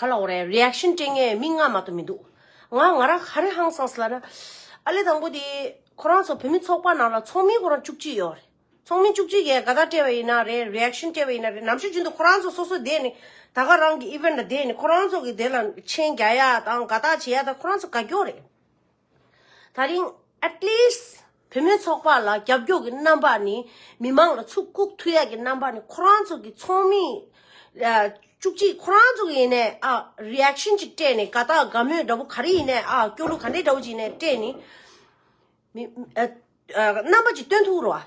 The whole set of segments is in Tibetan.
ཁ་ལག་རེད Reaction སྤྲད་ངའི་མིག་སྔ་མ་དུ་མི་འདུག་ང་ང་རང་ཧ་རི་ཧང་སངས་ལ་ན་ཨ་ལེ་དང་པོ་དེ་ཁོ་རང་ཚོ་བོད་མི་ཚོགས་པ་ནང་ལ་ཚོགས་མི་ཁོ་རང་བཅུ་གཅིག་ཡོད་རེད་ཚོགས་མི་བཅུ་གཅིག་གིས་དགའ་དག་སྤྲད་པ་ཡིན་ན་རེད Reaction སྤྲད་པ་ཡིན་ན་རེད་ནམ་ཞིག་རྒྱུན་དུ་ཁོ་རང་ཚོ་སོ་སོ་བསྡད་ནས་ད་ག་རང་གི Event ལ་བསྡད་ནས་ཁོ་རང་ཚོ་གི་དེ་ལ་མཆན་རྒྱག་ཡ་དང་དགའ་དག་བྱེད་ཡ་དང་ཁོ་རང་ཚོ་དགའ་སྐྱོ་རེད། ད་རིང At least བུད་མེད་ཚོགས་པ་ལ་རྒྱབ་སྐྱོར་གྱི་རྣམ་པ་ནི་མི་མང་ལ་ཚུར་བཀུག་ཐུ་ཡག་གི་རྣམ་པ་ནི་ཁོ་རང་ཚོ་གི་ཚོགས་མི་བཅུ་གཅིག་ཁོ་རང་ཚོ་གི་ནས་ཨ Reaction ཅིག་སྤྲད་ནས་ག་དག་དགའ་མོས་འདྲ་པོ་ག་རེ་ཡིན་ནས་ཨ་སྐྱོ་གླུ་ག་འདྲེ་འདྲ་པོ་ཅིག་ནས་སྤྲད་ནས་རྣམ་པ་ཅིག་སྟོན་ཐུག་རོགས།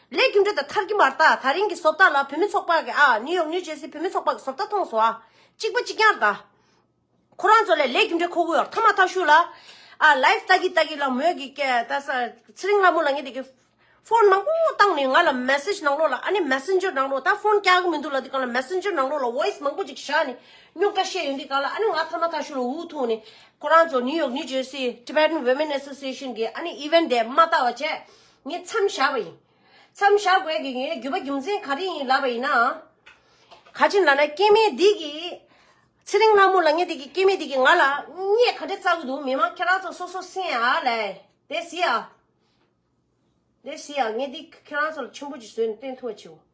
ལས་རྒྱུ་འབྲས་དང་མཐར་གྱི་མར་དག་ད་རིང་གི་བཟོ་ལྟ་ལ་བུད་མེད་ཚོགས་པ་གི་ཨ་ནིའུ་ཡོག་ནིའུ་ཇེར་སི་བུད་མེད་ཚོགས་པ་གི་བཟོ་ལྟ་མཐོང་སོང་ཨ་གཅིག་པ་གཅིག་རྐྱང་རེད་ད། ཁོ་རང་ཚོ་ལས་ལས་རྒྱུ་འབྲས་ཁོ་བོའི་ཨོར་ཐ་མ་ཐ་བཞུགས་ལ་ཨ་ལའི་ལྟ་གི་ལྟ་གི་ལ་མོས་གི་ཀྱེ་ད་ས་ཚེ་རིང་ལ་མོ་ལ་ངས་དེ་གི་ཕོན་མང་པོ་བཏང་ནས་ང་ལ message ནང་ལོགས་ལ་ཨ་ནི messenger ནང་ལོགས་ད་ཕོན་རྐྱང་གི་མི་འདུག་ལ་དེ་གང་ལ messenger ནང་ལོགས་ལ voice མང་པོ་ཅིག་བཞག་ནས་རྙོག་དྲ་བཤད་ཡོད་འདི་གང་ལ་ཨ་ནི་ང་ཐ་མ་ཐ་བཞུགས་ལ་འུ་ཐུག་ནས་ཁོ་རང་ཚོ་ནིའུ་ཡོག་ནིའུ་ཇེར་སི Tibetan women association གི་ཨ་ནི event དེ་མ་ལྟ་བ་བྱས་ངས་མཚམས་བཞག་པ་ཡིན། མཚམས་བཞག་དགོས་ཀྱི་ཡོན་རྒྱུ་བ་རྒྱུ་མཚན་ག་རེ་ཡིན་ལབ་པ་ཡིན་ན། ག་ཅིག་ལབ་ན་སྐྱེ་མེད་སྡིག་གིས། ཚེ་རིང་ལྷ་མོ་ལ་ངས་དེ་གི་སྐྱེ་མེད་སྡིག་གིས་ང་ལ་བརྙས་ག་རེ་བཙག་གི་འདུག་མི་མང་ཁྱེད་རང་ཚོ་སོ་སོ་སེང་ཨ་ལས་དེ་སི་ཨ། དེ་སི་ཨ་ངས་འདི་ཁྱེད་རང་ཚོ་ལ་ཆུན་པོ་ཅིག་བཟོས་ནས་སྟོན་ཐུབ་བ་བྱེད།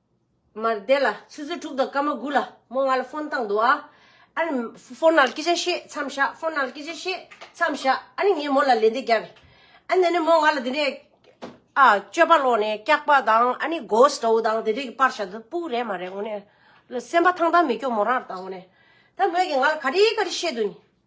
མར་བསྡད་ལ་ཆུ་ཚོད་དྲུག་དང་སྐར་མ་དགུ་ལ་རྨོ་ང་ལ་ཧྥོན་བཏང་འདུག་ཨ་ཨ་ནི་ཧྥོན་ནང་སྐད་ཆ་བཤད་མཚམས་བཞག་ཧྥོན་ནང་སྐད་ཆ་བཤད་མཚམས་བཞག་ཨ་ནི་ངས་མོ་ལ་ལན་འདི་བརྒྱབ་རེད་ཨ་ནི་ནི་མོ་ང་ལ་དེ་ནས་ཨ་སྤྱོད་པ་ལོག་ནས་སྐྱག་པ་དང་ཨ་ནི་གོས་སྤྲོ་དང་དེ་འདྲས་ཀྱི་པར་བྱ་དུ་སྤུག་རེད་མ་རེད་ངོ་ནས་སེམས་པ་ཐང་ཐང་མི་སྐྱོ་མོ་རང་ར་བཏང་ངོ་ནས་ད་ངོས་ཀྱི་ང་ལ་ག་རེ་ག་རེ་བཤད་དུ་ཨ་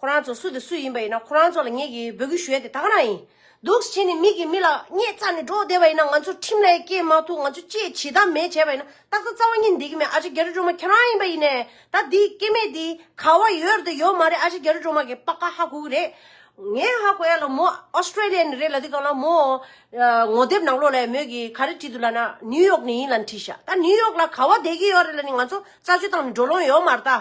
ཁོ་རང་ཚོ་སུ་དེ་སུ་ཡིན་པ་ཡིན་ན་ཁོ་རང་ཚོ་ལ་ངེད་ཀྱིས་འབོད་སྐུལ་ཞུ་ཡ་དེ་ད་ག་ན་ཡིན། སྡུག་ཅིག་བྱས་ནས་མིག་གིས་མི་ལ་བརྙས་བཙགས་ནས་འགྲོ་བསྡད་པ་ཡིན་ན་ང་ཚོ་ཁྲིམས་ལས་སྐྱེལ་མ་ཐུབ་ང་ཚོ་ཅེས་བྱིས་གཏམ་མེད་བྱས་པ་ཡིན་ན་ཏག་ཏག་རྩ་བ་ཉིད་འདེད་ཀྱི་མེད་ཨ་ཅེ་རྒྱ་རི་སྒྲོལ་མ་ཁྱེད་རང་ཡིན་པ་ཡིན་ནས་ད་འདི་སྐྱེ་མེད་འདི་ག་བ་ཡོད་དེ་ཡོད་མ་རེད་ཨ་ཅེ་རྒྱ་རི་སྒྲོལ་མ་གིས་པགས་ཁ་ཧ་གོ་གི་རེད། ངས་ཧ་གོ་ཡ་ལ་མོ Australia ནས་རེད་ལ་འདི་ག་ལ་མོ་ངོ་དེབ་ནང་ལོགས་ལ་ཡ་མོད་གི་ག་རེ་བྲིས་འདུག་ལ་ན New York ནས་ཡིན་ལ་ནི་བྲིས་ཤག་ད New York ལ་ག་བ་བསྡད་ཀྱི་ཡོད་རེད་ལ་ནི་ང་ཚོ་རྩ་ཆོད་བཏང་ནས་འགྲོ་ལོང་ཡོད་མ་རེད་ད།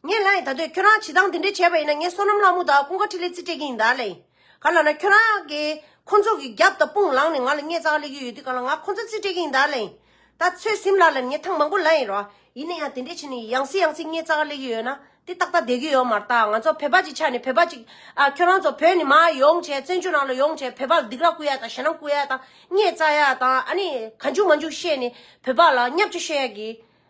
ངས་ལ་ཡིན་ད་དོད་ཁྱོད་རང་བྱེད་སྟངས་དེ་འདྲས་བྱས་པ་ཡིན་ན་ངས་བསོད་ནམས་ལྷ་མོ་དང་ཀུན་དགའ་ཁྲི་ལས་རྩིས་སྤྲད་ཀྱི་ཡིན་ད་ལེ། ག་ལ་ན་ཁྱོད་རང་གིས་ཁོ་ཚོ་གི་རྒྱབ་དང་དཔུང་ལངས་ནས་ང་ལ་བརྙས་གཙང་གླེགས་ཀྱི་ཡོད་དུས་ག་ལ་ང་ཁོ་ཚོ་རྩིས་སྤྲད་ཀྱི་ཡིན་ད་ལེ། ད་ཚོད་སིམ་ལ་ལ་ནས་ཐང་མང་པོ་ལ་ཡིན་རོགས་ཡིན་ན་ཡང་དེ་འདྲས་བྱས་ནས་ཡང་སྲིད་ཡང་སྲིད་བརྙས་གཙང་གླེགས་ཀྱི་ཡོད་ན་དེ་ཏག་ཏག་བསྡད་ཀྱི་ཡོད་མ་རྟགས་ང་ཚོ་བོད་པ་གཅིག་ཆགས་ནས་བོད་པ་གཅིག་ཨ་ཁྱོད་རང་ཚོ་བོད་ནས་མ་ཡོང་བྱས་བཙན་བྱོལ་ནང་ལ་ཡོང་བྱས་བོད་པ་ལ་སྡིག་ར་བསྐུལ་ཡ་དང་ཞེ་སྣང་བསྐུལ་ཡ་དང་བརྙས་གཙང་ཡ་དང་ཨ་ནི་ག་འཇུག་མ་འཇུག་བཤད་ནས་བོད་པ་ལ་གཉའ་བཅོ་བཤད་ཡ་གི་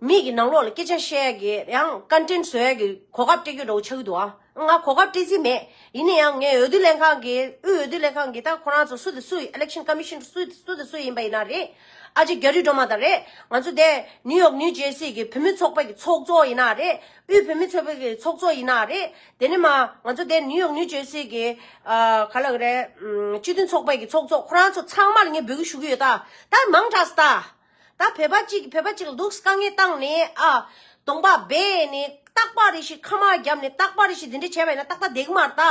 མིག་གི་ནང་ལོགས་ལ་སྐད་ཆ་བཤད་དགོས་ཡང་བཀའ་དྲིན་བཟོས་ཀྱི་གོ་སྐབས་སྤྲད་རྒྱུ་འདྲ་བོ་ཆགས་ཀྱི་འདུག་ཨང། ང་གོ་སྐབས་སྤྲད་རྩིས་མེད། ཡིན་ན་ཡང་ངས་འོས་བསྡུ་ལས་ཁང་གི་དབུས་འོས་བསྡུ་ལས་ཁང་གི་ད་ཁོ་རང་ཚོ་སུ་དེ་སུ་ཡི Election Commission སུ་དེ་སུ་དེ་སུ་ཡིན་པ་ཡིན་ན་རེད། ཨ་ཅེ་རྒྱ་རི་སྒྲོལ་མ་དང་རེད། ང་ཚོ་དེ New York New Jersey གི་བུད་མེད་ཚོགས་པ་གི་ཚོགས་གཙོ་ཡིན་ན་རེད། དབུས་བུད་མེད་ཚོགས་པའི་གི་ཚོགས་གཙོ་ཡིན་ན་རེད། དེ་ནས་མ་ང་ཚོ་དེ New York New Jersey གི་ག་ལ་གི་རེད་སྤྱི་མཐུན་ཚོགས་པའི་གི་ཚོགས་གཙོ་ཁོ་རང་ཚོ་ཚང་མར་ངས་འབོད་སྐུལ་ཞུ་གི་ཡོད་ད། ད་མང་དྲགས་སུ་ད། ད་བོད་པ་གཅིག་བོད་པ་གཅིག་ལ་སྡུག་དཀའ་ངལ་བཏང་ནས་ཨ། དོང་པ་སྦས་ནས་སྟག་པགས་རེ་ཞིག་ཁ་མ་བརྒྱབ་ནས་སྟག་པགས་རེ་ཞིག་འདི་འདྲ་བྱས་པ་ཡིན་ན་ཏག་ཏག་འདེགས་མ་ལྟ།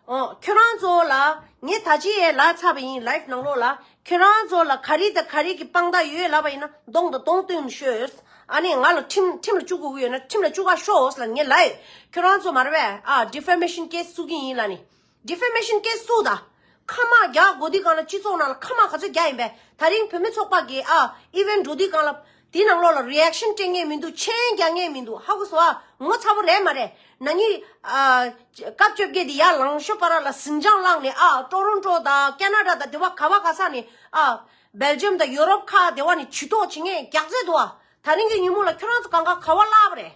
ཨོ། ཁྱོད་རང་ཚོ་ལ་ངས་ད་ཅི་ཡས་ལགས་ཚར་བ་ཡིན live ནང་ལོགས་ལ་ཁྱོད་རང་ཚོ་ལ་ག་རིགས་དང་ག་རིགས་ཀྱི་དཔང་རྟགས་ཡོད་ལབ་པ་ཡིན་ན་གདོང་དང་གདོང་བསྟུན་ཤོས། ཨ་ནས་ང་ལ་ཁྲིམས་ཁྲིམས་ལ་བཅུག་དགོས་ཀྱི་ཡོད་ན་ཁྲིམས་ལ་བཅུག་ག་ཤོས་ལ་ངས live ཁྱོད་རང་ཚོ་མར་བས་ཨ defamation case བཙུགས་ཀྱི་ཡིན་ལ་ནི། Defamation Case སུ་ད་ཁ་དམག་རྒྱག་དགོས་དུས་གང་ལ་སྤྱི་ཚོགས་ནང་ལ་ཁ་དམག་ག་ཚོད་རྒྱག་ཡིན་པས་ད་རིང་བོད་མི་ཚོགས་པ་འགས་ཨ Event འགྲོ་དུས་གང་ལ་དེ་ནང་ལོགས་ལ Reaction སྤྲད་ངེས་མི་འདུག་མཆན་རྒྱག་ངེས་མི་འདུག་ཧ་གོ་སོ་ཨ་ངོ་ཚ་པོ་རེད་མ་རེད་ན་ནི་ཨ། སྐབས་བཅོ་བརྒྱད་དེ་ཡར་ལངས་ཤོ་པ་ར་ལ་ཟིང་ཆང་བླངས་ནས་ཨ Toronto དང Canada དང་དེ་བ་ག་བ་ག་ས་ནས་ཨ Belgium དང Europe ཁག་དེ་བ་ནས་བྱུས་གཏོགས་བྱེད་ངེས་རྒྱག་མཛད་འདུག་ཨ་ད་རིང་གི་ཉིན་མོ་ལ་ཁྱོད་རང་ཚོ་གང་ག་ག་བ་བླ་བ་རེད།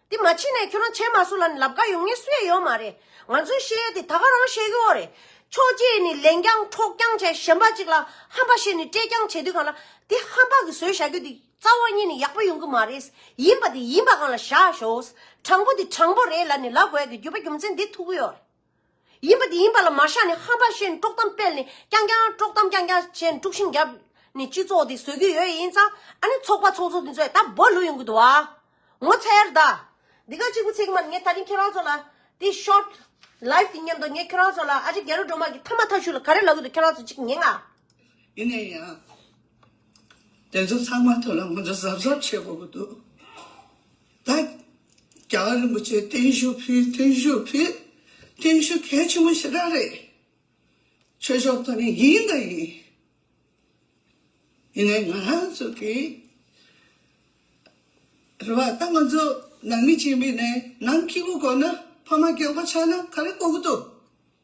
དེ་མ་ཕྱིན་ནས་ཁྱོད་རང་ཆེ་མ་སུ་ལ་ནི་ལབ་དགའ་ཡོང་ངེས་སུ་ཡ་ཡོད་མ་རེད། ང་ཚོས་བཤད་ཡས་དེ་ད་ག་རང་བཤད་རྒྱུ་བོ་རེད། ཆོས་རྗེས་ནི་ལན་རྐྱང་འཕྲོག་རྐྱང་བྱས་གཞན་པ་ཅིག་ལ་ཧམ་པ་བཤད་ནི་སྤྲད་རྐྱང་བྱས་དུས་གང་ལ་དེ་ཧམ་པ་གི་ཟོལ་བཞག་རྒྱུ་དེ་རྩ་བ་ཉིད་ནི་ཡག་པོ་ཡོང་གི་མ་རེད། ཡིན་པ་དེ་ཡིན་པ་གང་ལ་བཞག་ཞོགས། དྲང་པོ་དེ་དྲང་པོ་རེད་ལ་ནི་ལབ་དགོས་ཀི་རྒྱུ་བ་རྒྱུ་མཚན་འདི་ཐུག་གི་ཡོད་རེད། ཡིན་པ་དེ་ཡིན་པ་ལ་མ་བཞག་ནས་ཧམ་པ་བཤད་ནས་དཀྲོག་གཏམ་སྤེལ་ནས་རྐྱང་རྐྱང་དཀྲོག་གཏམ་རྐྱང་རྐྱང་བྱས་ནས་དཀྲུག་ཤིང་བརྒྱབ་ནས་སྤྱི་ཚོགས་དེ་བཟོ་གི་ཡོད་ཡིན་ཙང་ཨ་ནི་ཚོགས་པ་ཚོགས་ཚོགས་དེ་ཚོས་ད་འབོད་ལུགས་ཡོང་གི་འདུག་བ། ངོ་ཚ་ཡར་ད། འདི་ག་གཅིག་པུ་ཚིག་མ་ངས་ད་རིང་ཁྱེད་རང་ཚོ་ལ་དེ short live དེ་ཉན་འདུག་ངས་ཁྱོད་རང་ཚོ་ལ་ཨ་ཅེ་རྒྱ་རུ་འགྲོ་མ་གི་ཐ་མ་ཐ་ཤུ་ལ་ག་རེ་ལབ་གི་འདུག་ཁྱོད་རང་ཚོ་གཅིག་ཉན་ཨ། ཡིན་ནས་ཡང། དེ་ཚོ་ཚང་མ་ཐུགས་ལ་ང་ཚོ་གཟབ་གཟབ་བྱེད་དགོས་གི་འདུག། ལ། རྒྱ་གར་རིན་པོ་ཆེ་བརྟན་བཞུགས་ཕུལ་བརྟན་བཞུགས་ཕུལ། བརྟན་བཞུགས་གལ་ཆེན་པོ་ཞེ་དྲག་རེད། ཆོས་ཕྱོགས་ཐོག་ནས་ཡིན་དང་ཡིན། ཡིན་ནའི་ང་རང་ཚོ་གི་རེ་བ་ད་ང་ཚོ་ནང་མི་སྤྱི་མི་ནས་ནང་སྐྱིད་པོ་དགོས་ན་ཕ་མ་སྐྱིད་པོ་ཆགས་ན་ག་རེ་དགོས་ཀྱི་འདུག་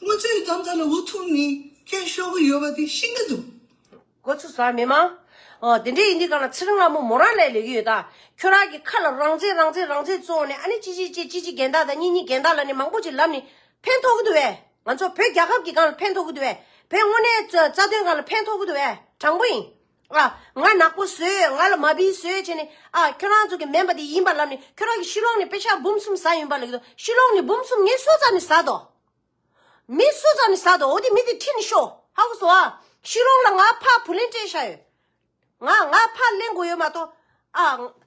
དངུལ་རྩའི་གདམ་ག་ལ་འུ་ཐུག་ནས་སྐྱོན་ཤོར་གྱི་ཡོད་པ་དེ་ཤེས་ཀྱི་འདུག། འགོ་ཚུགས་ས་མི་མང། འོ་དེ་འདྲས་ཡིན་དུས་གང་ལ་ཚེ་རིང་ལགས་མོ་མོ་རང་ལས་ལས་ཀྱི་ཡོད་ད། ཁྱོད་རང་གི་ཁ་ལ་རང་བཙན་རང་བཙན་རང་བཙན་བཙོང་ནས་ཨ་ནི་ཅི་ཅིའི་ཅེ་ཅི་ཅི་རྒན་དག་དང་གཉིས་གཉིས་རྒན་དག་ལ་ནི་མང་པོ་ཅིག་ལབ་ནི་ཕན་ཐོགས་ཀྱི་འདུག་བས། ང་ཚོ་བོད་རྒྱལ་ཁབ་ཀྱི་གང་ལ་ཕན་ཐོགས་ཀྱི་འདུག་བས། བོད་དངོས་གནས་རྩ་དོན་གང་ལ་ཕན་ཐོགས་ཀྱི་འདུག་བས་དྲང་པོ་ཡིན། ང་ནག་པོ་བཟོས། ང་ལ་མ་བིས་བཟོས་བྱས་ནས། ཁྱོད་རང་ཚོ་གི་མེན་པ་དེ་ཡིན་པ་ལབ་ནས་ཁྱོད་རང་གི་ཤི་ལོང་ནས་པེ་ཤག་འབུམ་གསུམ་ཟ་ཡོན་པ་ལ་གི་དོ། ཤི་ལོང་ནས་འབུམ་གསུམ་ངའི་སོ་ཙམ་ནས་ཟ་དོ། མི་སོ་ཙམ་ནས་ཟ་དོ་འོ་དེ་མི་དེ་ཁྲིད་ནས་ཤོ། ཧ་གོ་སོང་ཨ། ཤི་ལོང་ལ་ང་ཕ་བུ་ལེན་སྤྲད་བྱ་ཡོད། ང་ང་ཕ་གླེན་དགོས་ཡོད་མ་གཏོགས།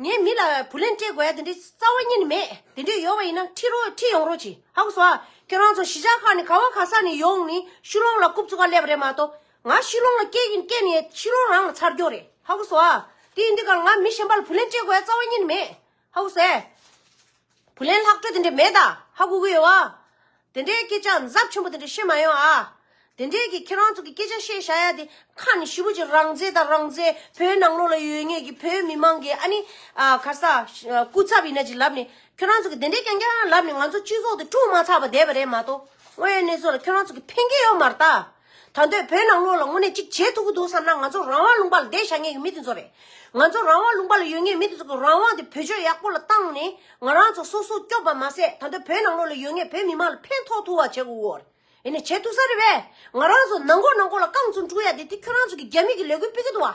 ངའི་མི་ལ་བུ་ལན་སྤྲད་དགོས་ཡ་དེ་འདྲའི་རྩ་བ་རྙེད་ནི་མེད། དེ་འདྲས་ཡོད་པ་ཡིན་ན་ཁྲིད་རོགས་ཁྲིད་ཡོང་རོགས་གྱིས་ཧ་གོ་སོ་ཨ། ཁྱོད་རང་ཚོ་གཞིས་ཆགས་ཁག་ནས་ག་བ་ག་ས་ནས་ཡོང་ནས་ཤུ་ལོང་ལ་རྐུབ་ཚུགས་ཀ་སླེབས་པ་རེད་མ་གཏོགས། ང་ཤུ་ལོང་ལ་སྐྱེས་ཀྱིན་སྐྱེས་ནས་ཤུ་ལོང་རང་ལ་ཚར་རྒྱོ་རེད་ཧ་གོ་སོ་ཨ། དེ་ཡིན་དུས་ཀར་ང་མི་གཞན་པ་ལ་བུ་ལན་སྤྲད་དགོས་ཡ་རྩ་བ་རྙེད་ནི་མེད་ཧ་གོ་སོ་ཨེ། བུ་ལན་ལྷག་འཕྲོ་དེ་འདྲས་མེད་ད་ཧ་གུ་གུ་ཡོད་བ། དེ་འདྲའི་སྐད་ཆ་འཛབ་ཆེན་པོ་དེ་འདྲས་བཤད་མ་ཡོང་ཨ། དེ་འདྲས་ཀྱི་ཁྱེད་རང་ཚོ་གི་སྐད་ཆ་བཤད་བཞག་ཡ་དེ་ཁ་ནས་ཞི་བུ་ཅིག་རང་བཙན་དང་རང་བཙན་བོད་ནང་ལོགས་ལ་ཡོད་ངེས་ཀྱི་བོད་མི་མང་གི་ཨ་ནི་གར་ས་སྐུ་ཚབ་ཡིན་ན་ཅིག་ལབ་ནས་ཁྱོད་རང་ཚོ་གི་དེ་འདྲས་ཀྱང་ཀྱང་ལབ་ནས་ང་ཚོ་སྤྱི་ཚོགས་དེ་དཀྲུགས་མ་ཚར་བ་བསྡད་པ་རེད་མ་གཏོགས་དངོས་ཡོད་གནས་ཚོགས་ལ་ཁྱོད་རང་ཚོ་གི་ཕན་ཁེ་ཡོད་མ་རྟགས། ད་འདོད་བོད་ནང་ལོགས་ལ་དངོས་གནས་ཅིག་བྱེད་ཐུབ་ཀྱི་འདུག་བསམ་ན་ང་ཚོ་རང་དབང་ལུང་པ་ལ་བསྡད་བཞག་ངེས་ཀྱི་མི་དེ་ཚོ་རེད། ང་ཚོ་རང་དབང་ལུང་པ་ལ་ཡོད་ངེས་མི་དེ་ཚོ་གི་རང་དབང་དེ་བོད་ཆོས་ཡག་པོ་ལ་བཏང་ནས་ང་རང་ཚོ་སོ་སོ་སྐྱོབ་པ་མ་ཟད་ད་འདོད་བོད་ནང་ལོགས་ལ་ཡོད་ངེས་བོད་མི་མང་ལ་ཕན་ཐོག་ཐུག་བ་བྱེད་དགོས་ཀྱི་ཡོད་ནས་བྱེད་ཐུབ་ས་རེད་པས་ང་རང་ཚོ་ནང་མགོ་ནང་མགོ་ལ་རྐང་ཚུགས་འཁྲུག་ཡ་དེ་དེ་ཁྱོད་རང་ཚོ་གི་རྒྱ་མི་གི་ལས་འགུལ་སྤེལ་གྱི་འདུག་བ།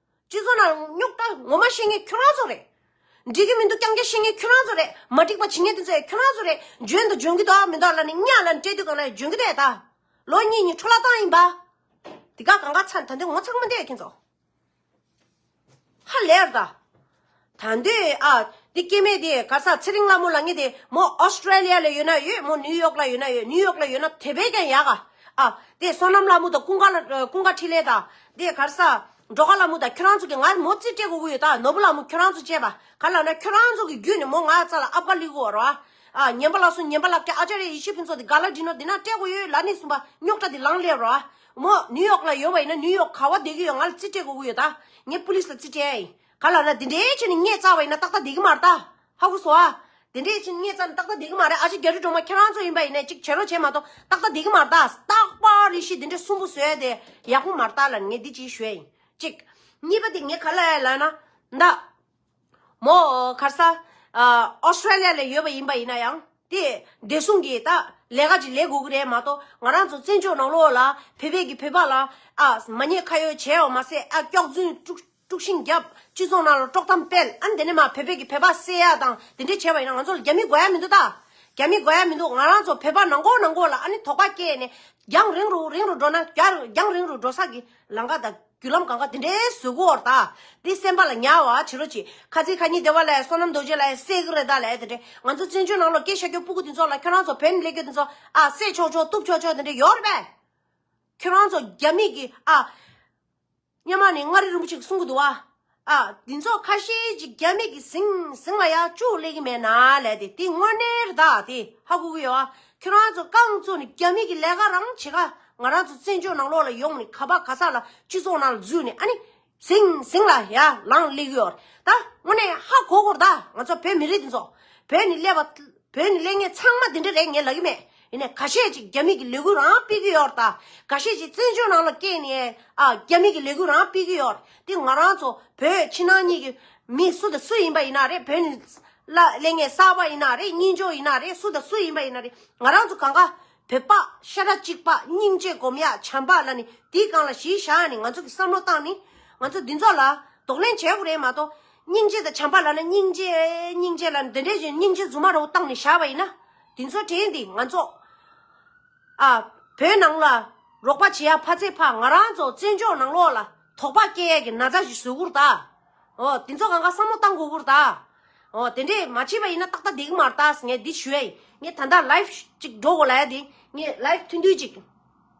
སྤྱི་ཚོགས་ནང་རྙོག་དྲ་ངོ་མ་ཤེས་ངེས་ཁྱོད་རང་ཚོ་རེད། འགྲིག་གི་མི་འདུག་རྐྱང་རྐྱང་ཤེས་ངེས་ཁྱོད་རང་ཚོ་རེད། མ་འགྲིག་པ་བྱེད་ངེས་དེ་ཚོ་ཡང་ཁྱོད་རང་ཚོ་རེད། འཇོན་དང་འཇོན་གི་འདུག་མི་འདུག་ལ་ནི་གཉའ་ལ་ནི་སྤྲད་དུས་གང་ན་ཡང་འཇོན་གི་རེད་ད། ལོ་གཉིས་གཉིས་འཕྲོ་བརླག་བཏང་ཡིན་པ། དེ་ག་གང་ག་ཚར་ད་འདི་ངོ་ཚང་མ་འདས་ཡོད་ཁྱོད་ཚོ། ཧ་ལས་ར་ད། ད་འདི་ཨ། འདི་སྐྱེ་མེད་དེ་གར་ས་ཚེ་རིང་ལ་མོ་ལ་ངེས་དེ་མོ Australia ལ་ཡོད་ན་ཡོད་མོ New York ལ་ཡོད་ན་ཡོད New York ལ་ཡོད་ན་དེ་བས་ཀྱང་ཡག་ག་ཨ། དེ་བསོད་ནམས་ལ་མོ་དང་ཀུན་དགའ་ལ་ཀུན་དགའ་འཕྲིན་ལས་དང་དེ་གར་ས་འགྲོ་ཁ་ལ་མོ་དང་ཁྱོད་རང་ཚོ་གི་ང་མོ་རྩིས་སྤྲད་གོ་གི་ཡོད་ད་ནོར་བུ་ལ་མོ་ཁྱོད་རང་ཚོ་བཅས་པ་ག་ལ་ན་ཁྱོད་རང་ཚོ་གི་བརྒྱུད་ནས་མོ་ང་རྩ་ལ་ཨབ་ག་ལི་གོ་ར་ཨ། ཉན་པ་ལ་སོང་ཉན་པ་ལ་ཀྱ་ཨ་ཅ་རེ་ཡེ་ཤི་ཕིན་ཚོ་དེ་ག་ལ་འདྲི་ནོར་དེ་ན་སྤྲད་གོ་ཡོད་ལ་ནི་གསུངས་པ་རྙོག་དྲ་དེ་ལངས་སླེབས་ར་ཨ། མོ New York ལ་ཡོད་པ་ཡིན་ན New York ག་བ་བསྡད་གི་ཡོད་ང་ལ་རྩིས་སྤྲད་གོ་གི་ཡོད་ད་ངས Police ལ་རྩིས་སྤྲད་ཨ་ཡིན། ག་ལ་ར། དེ་འདྲའི་ཆེ་ནི་ངས་རྩ་བ་ཡིན་ན་ཏག་ཏག་བསྡད་ཀྱི་མ་རེད་ད། ཧ་གོ་སོ་ཨ། དེ་འདྲའི་ཆེ་ནི་ངས་རྩ་ནི་ཏག་ཏག་བསྡད་ཀྱི་མ་རེད་ཨ་ཅེ་རྒྱ་རི་སྒྲོལ་མ་ཁྱེད་རང་ཚོ་ཡིན་པ་ཡིན་ནས་གཅིག་བྱེད་རོགས་བྱས་མ་གཏོགས་ཏག་ཏག་བསྡད་ཀྱི་མ་རེད་ད། རྟག་པར་ཡེ་ཤེས་དེ་འདྲའི་གསུམ་པོ་བཟོས་དེ་ཡག་པོ་མ་རེད་ད་ལ་ངས་འདི་གཅིག་ཞུས་ཡིན་གཅིག། གཉིས་པ་དེ་ངས་ག་ལ་ཡ་ལ་ན། ད། མོ་གར་ས། Australia ལ་ཡོད་པ་ཡིན་པ་ཡིན་ན་ཡང། དེ་བདེ་སྲུང་གི་ད། ལས་ཀ་ཅིག་ལས་དགོས་ཀྱི་རེད་མ་གཏོགས་ང་རང་ཚོ་བཙན་བྱོལ་ནང་ལོགས་ལ་བོད་པས་ཀྱི་བོད་པ་ལ། ཨ། མ་ཉེས་ཁ་ཡོད་བྱས་ཡོང་མ་ཟད་ཨ། སྐྱག་རྫུན། དཀྲུགས་ཤིང་རྒྱབ། སྤྱི་ཚོགས་ནང་ལ་དཀྲོག་གཏམ་སྤེལ། ཨ་ནི་དེ་ནས་མ་བོད་པས་ཀྱི་བོད་པ་བསད་ཡག་དང་དེ་འདྲས་བྱས་པ་ཡིན་ན་ང་ཚོ་ལ་རྒྱ་མི་དགོས་ཡག་མི་འདུག་ད། རྒྱ་མི་དགོས་ཡག་མི་འདུག་ང་རང་ཚོ་བོད་པ་ནང་གོ་ནང་གོ་ལ་ཨ་ནི་དོགས་པ་སྐྱེས་ནས། རྒྱང་རིང་རུ་རིང་རུ་འགྲོ་ན་རྒྱང་རིང་རུ་འགྲོ་ས་ཀྱི་ལམ་ཁ་དང་རྒྱུ་ལམ་གང་ག་དེ་འདྲའི་བཟོས་གོ་འོར་ད། དེ་སེམས་པ་ལ་ཉའ་བ་བྱི་རོ་བྱི། ཁ་ཚིག་ཁ་ཉིན་དེ་བ་ལས་བསོད་ནམས་རྡོ་རྗེ་ལ་ཡ་བསད་ཀྱི་རེད་ད་ལས་དེ་འདྲས་ང་ཚོ་བཙན་བྱོལ་ནང་ལོ་སྐད་ཤ་ཀྱོག་སྤུ་གུ་དེ་ཚོ་ལ་ཁྱོད་རང་ཚོ་བོད་མི་ལས་ཀྱོ་དེ་ཚོ་ཨ་བསད་ཆོག་ཆོག་གཏུབ་ཆོག་ཆོག་དེ་འདྲས་ཡོག་རེད་པས། ཁྱོད་རང་ཚོ་རྒྱ་མི་གྱི་ཨ། སྙེ་མ་ནས་མངའ་རིས་རིན་པོ་ཆེ་གི་གསུང་གི་འདུག་ཨ། འདི་ཚོ་ཁ་ཤས་ཀྱིས་རྒྱ་མིག་གིས་ཟིང་ཟིང་ལ་ཡག་ཅུག་གླེགས་ཀྱི་མེད་ན་ལས་དེ་དེ་དངོས་གནས་རི་དྭགས་དེ་ཧ་གོ་གི་ཡོད་ཨ། ཁྱོད་རང་ཚོ་རྐང་གཙོ་ནི་རྒྱ་མིག་གི་ལས་ཀ་རང་བྱེད་ཁ་ང་རང་ཚོ་བཙན་བྱོལ་ནང་ལོག་ལ་ཡོང་ནས་ག་པ་ག་ས་ལ་སྤྱི་ཚོགས་ནང་ལ་འཛུལ་ནས་ཨ་ནི་ཟིང་ཟིང་ལ་ཡ་ལངས་གླེགས་ཡོད་ཨ། དངོས་གནས་ཧ་གོ་གོ་རི་དྭགས་ང་ཚོ་བོད་མི་རིགས་འདི་ཚོ་བོད་ནི་ཀླད་པ། བོད་ནས་གླེང་ངེས་ཚང་མ་དེ་འདྲ་རེད་ངས་ལབ་ཀྱི་མེད་ཡིན་ནའི་ག་ཤེད་ཅིག་རྒྱ་མིག་གི་ལས་འགུལ་རང་སྤེལ་གྱི་ཡོད་རྟ་ག་ཤེད་ཅིག་བཙན་བྱོལ་ནང་ལ་སྐྱེས་ནས་རྒྱ་མིག་གི་ལས་འགུལ་རང་སྤེལ་གྱི་ཡོད་རེད་དེ་ང་རང་ཚོ་བོད་ཕྱི་ནང་གཉིས་ཀྱི་མི་སུ་དང་སུ་ཡིན་པ་ཡིན་ན་རེད་བོད་ནས་གླེང་ངེས་གསར་པ་ཡིན་ན་རེད་གཉིས་འཇོག་ཡིན་ན་རེད་སུ་དང་སུ་ཡིན་པ་ཡིན་ན་རེད་ང་རང་ཚོ་གང་ག་བོད་པ་ཤ་ཁྲག་གཅིག་པ་སྙིང་རྗེ་སྒོམ་ཡག་བྱམས་པ་ལ་ནི་དེའི་སྒང་ལ་གཞིས་བཞག་ནས་ང་ཚོ་གི་བསམ་བློ་བཏང་ནི་ང་ཚོ་འདི་ཚོ་ལ་དོགས་གླེང་བྱེད་དགོས་རེད་མ་གཏོགས། སྙིང་རྗེ་དང་བྱམས་པ་ལ་ནི་སྙིང་རྗེ། སྙིང་རྗེ་ལ་ནི་འདི་འདྲའི་བཞིན་སྙིང་རྗེ་རྫུན་མ་རོ་བཏང་ནས་བཞག་པ་ཡིན་ན། དེ་ཚོ་དྲན་ཏེ་ང་ཚོ། ཨ། བོད་ནང་ལ། རོགས་པ་བྱེད་ཡ་ཕ་ཚེ་ཕག་ང་རང་ཚོ་བཙན་བྱོལ་ནང་ལོག་ལ་དོགས་པ་སྐྱེ་ཡ་གི་ན་ཚ་ཞིག་བཟོས་དགོས་ར་ད། ཨོ། དེ་ཚོ་གང་ག་བསམ་བློ་བཏང་དགོས་དགོས་ར་ད། ཨོ། དེ་འདྲས་མ་བྱས་པ་ཡིན་ན་ཏག་ཏག་དེ་གི་མ་ར་ད་ངས་འདི་ཞུ་ཡ་ཡིན། ངས་ད་ལྟ live ཅིག་འགྲོ་དགོས་ལ་ཡ་དེ། ངས live ཐུན་ཐུན་ཅིག།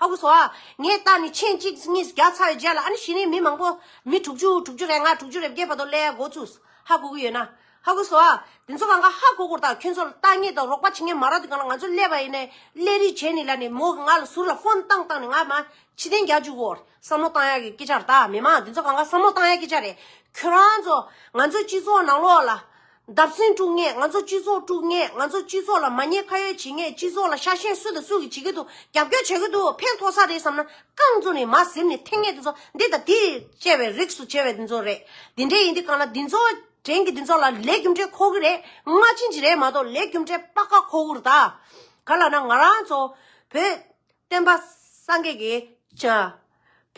ཧཱུྃ་བྷྱོ། ངས་བཏགས་ནི་ཆེན་གཅིག་གཉིས་བརྒྱ་ཚར་རེ་བརྒྱད་ལ་ཨ་ནི་བྱེ་རིའི་མི་མང་པོ། མི་དྲུག་ཅུ་དྲུག་ཅུ་རེ་ལྔ་དྲུག་ཅུ་རེ་བརྒྱད་བར་དོ་ཀླད་ཡ་མགོ་བཙུགས། ཧ་གོ་གི་ཡོད་ན། ཧཱུྃ་བྷྱོ། དེ་ཚོ་གང་ག་ཧ་གོ་གོ་དང་ཁྱོད་ཚོ་ལ་བརྟག་ངེས་དང་རོགས་པ་བྱེད་ངེས་མ་རག་དུས་གང་ལ་ང་ཚོ་ཀླད་པ་ཡིན་ནའི་ཀླད་རིགས་བྱེད་ནི་ལ་ནི་མོ་གི་ང་ལ་ཟུར་ལ་ཧོན་བཏང་བཏང་ནི་ང་མ་ཕྱི་གདན་རྒྱག་འཇུག་གོ། བསམ་བློ་བཏང་ཡག་གི་སྐད་ཆ་རེད་ད་མི་མང་དེ་ཚོ་གང་ག་བསམ་བློ་བཏང་ཡག་སྐད་ཆ་རེད། ཁྱོད་རང་ཚོ་ང་ཚོའི་སྤྱི་ཚོགས་ནང་ལོགས་ལ། འདབ་སེང་དཀྲུག་ངེས་ང་ཚོ་སྤྱི་ཚོགས་དཀྲུག་ངེས་ང་ཚོ་སྤྱི་ཚོགས་ལ་མ་ཉེས་ཁ་ཡོད་བྱེད་ངེས་སྤྱི་ཚོགས་ལ་ཤ་ཞེན་སུ་དང་སུ་གིས་བྱེད་ཀྱི་འདུག་རྒྱབ་སྐྱོར་བྱེད་ཀྱི་འདུག་ཕན་ཐོགས་ས་རེད་བསམ་ན་རྐང་བཙུགས་ནས་མ་གཟིམ་ནས་ཐེངས་ངེས་དེ་ཚོ་འདི་དང་དེས་བཅད་པའི་རིགས་སུ་བྱེད་པའི་འདི་ཚོ་རེད་འདི་འདྲས་ཡིན་དུས་གང་ལ་འདི་ཚོ་དྲན་གི་འདི་ཚོ་ལ་ལས་རྒྱུ་འབྲས་ཁོ་གི་རེད་སྔ་ཕྱི་འཇི་རེད་མ་གཏོགས་ལས་རྒྱུ་འབྲས་དཔག་དཀའ་ཁོ་བོར་ད་ག་ལ་ན་ང་རང་ཚོ་བོད་བསྟན་པ་སངས་རྒྱས་ཀྱི་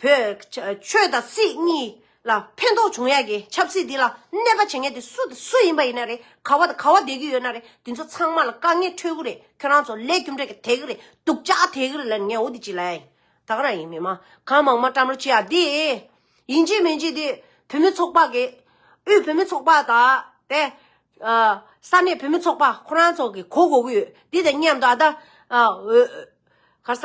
བོད། ཆོས་དང་སྲིད་གཉིས་ལ་ཕན་ཐོགས་འབྱུང་ཡག་གི་ཆབ་སྲིད་འདི་ལ་གནས་པ་བྱེད་མཁན་དེ་སུ་དང་སུ་ཡིན་པ་ཡིན་ན་རེད་ག་བ་དང་ག་བ་བསྡད་ཀྱི་ཡོད་ན་རེད་འདི་ཚོ་ཚང་མ་ལ་དཀའ་ངལ་འཕྲོད་ཀྱི་རེད་ཁྱོད་རང་ཚོ་ལས་རྒྱུ་འབྲས་ཀྱི་དེ་གི་རེད་སྡུག་ཅག་དེ་གི་རེད་ལན་ངའོ་འདི་ཅི་ལ་ཡིན་ད་ག་རང་ཡིན་མི་མང་གང་མང་མ་བཀྲམ་རོ་ཅི་ཡ་འདི་ཡིན་ཅི་མིན་ཅི་འདི་བུད་མེད་ཚོགས་པ་གི་དབུས་བུད་མེད་ཚོགས་པ་དང་དེ་ས་གནས་བུད་མེད་ཚོགས་པ་ཁོ་རང་ཚོ་གི་གོ་གོ་གི་ཡོད་འདི་དང་མཉམ་དུ་ཨ་ད་ག་ས།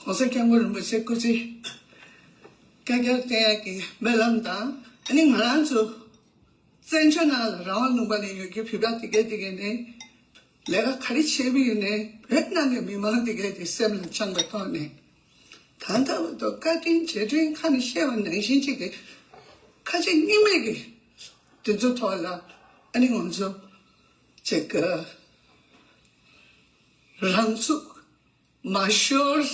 གོང་ས་སྐྱབས་མགོན་རིན་པོ་ཆེ་སྐུ་ཚེ་བསྐལ་བརྒྱར་བརྟན་ཡག་གི་སྨོན་ལམ་དང་ཨ་ནི་ང་རང་ཚོ་བཙན་བྱོལ་ནང་ལ་རང་དབང་ལུང་པ་ནས་ཡོད་རྒྱུའི་ཕིབས་ར་དེ་གས་དེ་གས་ནས་ལས་ཀ་ག་རེ་བྱས་མིན་ནས་བོད་ནང་གི་མི་མང་དེ་གས་དེ་སེམས་ལ་བཅངས་པའི་ཐོག་ནས་གང་ལྟ་བུ་དུ་བཀའ་དྲིན་རྗེས་དྲིན་ཁ་ནས་བཤད་པ་ནང་བཞིན་ཅིག་གི་ཁ་ཆེ་སྙིང་མེད་གི་དེ་ཚོ་ཐོག་ལ་ཨ་ནི་ང་ཚོ་ཅིག་གི་རང་ཚུགས། མ་ཤོར།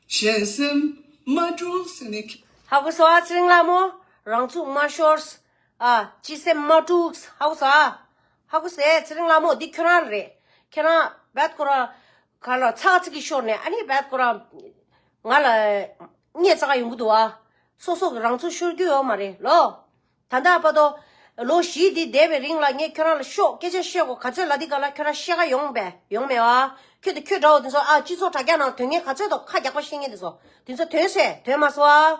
གཞན་སེམས་མ་དཀྲུགས་ཟེར་ནས། ཧ་གོ་སོ་ཨ་ཚེ་རིང་ལགས་མོ། རང་ཚུགས་མ་ཤོར། སྤྱི་སེམས་མ་དཀྲུགས། ཧ་གོ་སོ་ཨ། ཧ་གོ་སེ་ཚེ་རིང་ལགས་མོ་འདི་ཁྱོད་རང་རེད། ཁྱེད་རང་རྦད་དཀོར་ར། ག་ལ་ཚ་ཚིག་གིས་ཤོར་ནས་ཨ་ནི་རྦད་དཀོར་ར། ང་ལ། རྙེད་ཚ་ག་ཡོང་གི་འདུག་ཨ། སོ་སོ་གི་རང་ཚུགས་ཤོར་རྒྱུ་ཡོད་མ་རེད་ལོ། ད་ལྟ་ཨ་ཕ་ཏོ། ལོ་བཞི་འདི་འདས་པའི་རིང་ལ་ངས་ཁྱོད་རང་ལ་ཤོག་སྐད་ཆ་བཤད་གོ་ག་ཚོད་ལ་འདི་ག་ལ་ཁྱོད་རང་ཤེས་ག་ཡོང་བས་ཡོང་མེད་བ། ཁྱོད་དང་ཁྱོད་འདྲ་བོ་དེ་ཚོ་ཨ་སྤྱི་ཚོགས་དྲ་རྒྱ་ནང་དོན་ངན་ག་ཚོད་དང་ཁ་རྒྱག་པ་ཤེས་ངེས་དེ་ཚོ་དེ་ཚོ་དོན་ཟེར་དོན་མ་ཟོ་ཨ།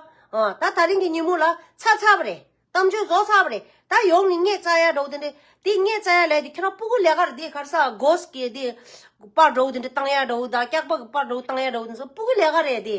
ད་ད་རིང་གི་ཉིན་མོ་ལ་ཚ་ཚ་བ་རེད། གཏམ་བརྗོད་བཟོ་ཚར་བ་རེད། ད་ཡོང་ནི་སྔས་རྩྭ་ཡར་འགྲོ་བ་དེ་འདྲས་དེ་སྔས་རྩྭ་ཡར་ལས་དེ་ཁྱོད་རང་སྤུ་གུ་ལས་ཀར་དེ་གར་ས་གོས་ཀྱི་དེ་པར་འགྲོ་བ་དེ་འདྲས་སྟངས་ཡར་འགྲོ་བ་ད་སྐྱག་པ་གི་པར་འགྲོ་བ་སྟངས་ཡར་འགྲོ་བ་དེ་ཚོ་སྤུ་གུ་ལས་ཀ་རེད་དེ།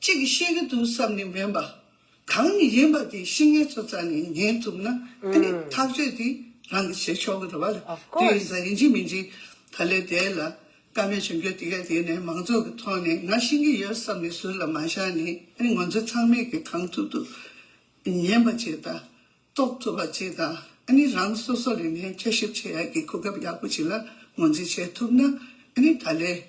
ཅིག་གིས་ཤེས་ཀྱི་འདུག་བསམ་ནས་སྨན་པ་གང་ཡིན་ཡིན་པ་དེ་ཤི་ངལ་ཚོ་རྩ་ནས་ཉན་ཐུབ་ན་དེ་ནི་ཐག་གཅོད་དེ་རང་གིས་བྱེད་ཆོག་གི་རེད་བ་ལ་དེ་ཡིན་ས་ཡིན་གཅིག་མིན་གཅིག་ད་ལས་དེ་ལ་དཀའ་མེད་བྱུང་རྒྱུ་དེ་ག་དེ་ནི་མང་ཚོགས་ཀྱི་ཐོག་ནས་ང་ཤི་གི་ཡོད་བསམ་ནས་ཟུར་ལ་མ་བཞག་ནས་དེ་ནི་ང་ཚོ་ཚང་མས་ཀྱི་གང་ཐུབ་ཐུབ་ཉན་པ་ཅིག་དང་རྟོགས་ཐུབ་པ་ཅིག་དང་ནི་རང་སོ་སོ་ལས་ནས་དཔྱད་ཞིབ་བྱེད་ཡག་གི་གོ་སྐབས་ཡག་པོ་ཅིག་ལ་ངོས་འཛིན་བྱེད་ཐུབ་ན་དེ་ནི་ད་ལས་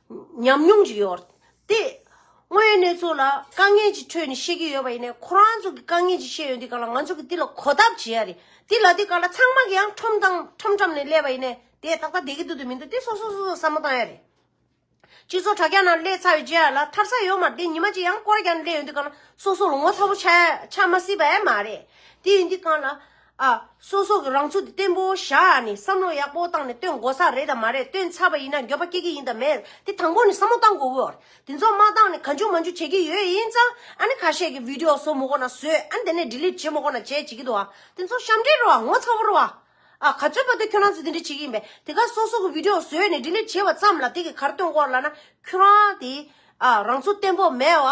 ཉམས་མྱོང་ཅིག་ཡོད། དེ་སྔོན་གནས་ཚུལ་ལ་དཀའ་ངལ་གྱི་ཁྲོད་ནས་ཤེས་ཀྱི་ཡོད་པ་ཡིན་ནས་ཁོ་རང་ཚོ་གི་དཀའ་ངལ་ཅིག་ཤེས་ཡོད་འདི་ག་ལ་ང་ཚོ་གི་འདི་ལ་གོ་སྟབས་བྱེད་ཡ་རེད་འདི་ལ་འདི་ག་ལ་ཚང་མ་གི་ཡང་ཁྲོམ་དང་ཁྲོམ་ཁྲམ་ནས་སླེབས་པ་ཡིན་ནས་དེ་ཏག་ཏག་དེ་གི་འདུག་དེ་མི་འདུག་དེ་སོ་སོ་སོ་སོ་བསམ་བློ་བཏང་ཡ་རེད། སྤྱི་ཚོགས་དྲ་རྒྱ་ནང་སླེབས་ཚར་བའི་རྗེས་ལ་ཐར་ས་ཡོད་མ་རེད་ཉི་མ་གཅིག་ཡང་སྐོར་རྒྱ་ནས་སླེབས་ཡོད་འདི་ག་ལ་སོ་སོ་ལ་ངོ་ཚ་པོ་ཆགས་མ་སྲིད་པ་ཡང་མ་རེད་དེ་ཡིན་འདི་ག་ལ། ཨ། སོ་སོ་གི་རང་ཚུགས་དེ་བརྟན་པོ་བཞག་ནས་བསམ་བློ་ཡག་པོ་བཏང་ནས་བཏོན་དགོ་ས་རེད་དམ་མ་རེད་བཏོན་ཚར་བ་ཡིན་ན་འགྱོད་པ་སྐྱེ་གི་ཡིན་དམ་མེད་དེ་དང་པོ་ནས་བསམ་བློ་བཏང་དགོ་གི་ཨོར་དེ་ཚོ་མ་བཏང་ནས་ག་འཇུག་མ་འཇུག་བྱེད་ཀྱི་ཡོད་ཡིན་ཙང་ཨ་ནི་ཁ་ཤས་ཀྱི་བིདེའོ་བཟོ་མོ་གོ་ན་བཟོས་ཨ་ནི་དེ་ནས Delete བྱེད་མོ་གོ་ན་བྱས་བྱེད་ཀྱི་འདུག་ཨ་དེ་ཚོ་ཞབས་འདྲེན་རོ་ཨ་ངོ་ཚ་བོ་རོ་ཨ། ཨ། ག་ཚོད་པ་དུས་ཁྱོད་རང་ཚོ་དེ་འདྲས་བྱེད་ཀྱི་ཡིན་པས་དེ་ག་སོ་སོ་གི་བིདེའོ་བཟོས་ནས Delete བྱས་བ་ཙམ་ལ་དེ་གི་གར་བཏོན་སྐོར་ལ་ན་ཁྱོད་རང་དེ་ཨ་རང་ཚོ་བརྟན་པོ་མེད་བ་